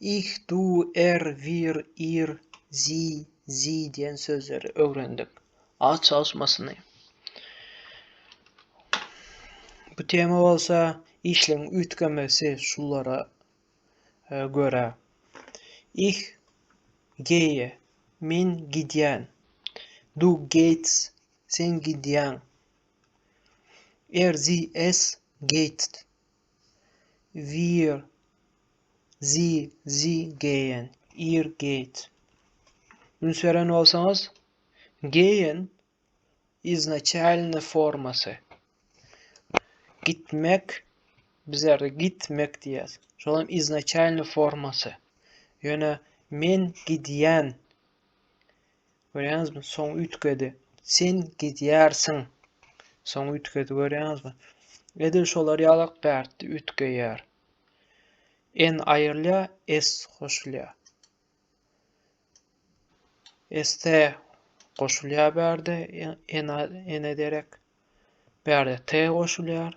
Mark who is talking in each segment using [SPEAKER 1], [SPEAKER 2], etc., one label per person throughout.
[SPEAKER 1] Ich, du, er, wir, ir, sie, sie diýen sözleri öwrendik. Aç çalyşmasyny. Bu tema bolsa işleň üýtgemesi şulara e, görä. Ich geýe, men gidýän. Du geýts, sen gidýäň. Er zi es geýtst, Weir, zi, zi geýen, ir geýt. Üns beren bolsaňyz, geýen iznaçalny formasy. Gitmek, bizlerde gitmek diýýäs. Şol hem iznaçalny formasy. Ýöne men gidýän. Görýäňizmi, soň üýtgedi. Sen gidýärsiň. Soň üýtgedi, görýäňizmi? Edil şolar ýalak bärtdi üýtgeýär. En aýrylýar, es goşulýar. Este goşulýar bärde, ene derek. Bärde t goşulýar.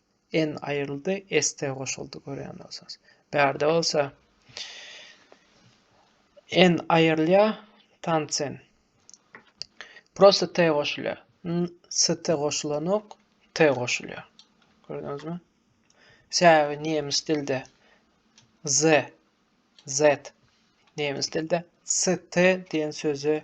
[SPEAKER 1] N aýryldy, S de goşuldy görýän bolsaňyz. Bärde bolsa N aýrylýar, tansen. Prosta T goşulýar. ST goşulanok, T goşulýar. Gördüňizmi? Sebäbi nemes dilde Z, Z nemes dilde ST diýen sözi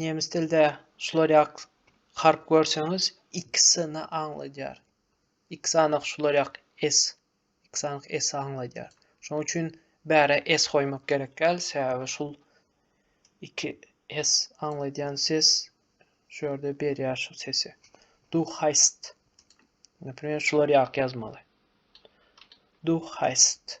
[SPEAKER 1] Nemes dilde şular ýak harp görseňiz ikisini aňladýar. X anyk şular ýak S. X anyk S aňladýar. Şonuň üçin bäre S goýmak gerek däl, sebäbi şul iki S aňladýan ses şu ýerde berýär şu sesi. Du heist. Näme şular ýak ýazmaly. Du heist.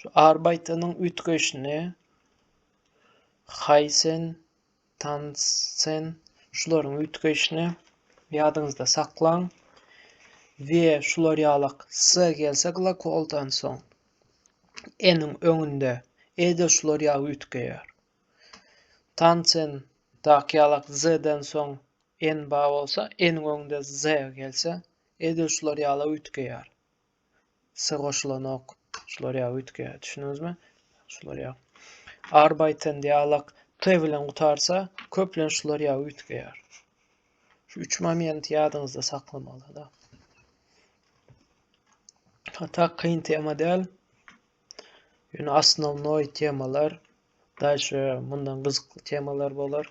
[SPEAKER 1] Şu Arbeitanyň üýtgeýşini Haýsen, Tansen şularyň üýtgeýşini ýadyňyzda saklaň. We şular ýalak S gelse glakoldan soň N-iň öňünde E-de şular ýaly üýtgeýär. Tansen daky ýalak Z-den soň N ba bolsa, N-iň öňünde Z gelse, E-de şular ýaly üýtgeýär. S goşulanok. Şular ýa üýtge. Düşündiňizmi? Şular ýa. Arbeiten dialog T bilen gutarsa, köplenç şular ýa üýtgeýär. Şu üç momenti ýadyňyzda saklamaly da. Hatta kyn tema däl. Ýöne asnovnoý temalar, daşy mundan gyzykly temalar bolar.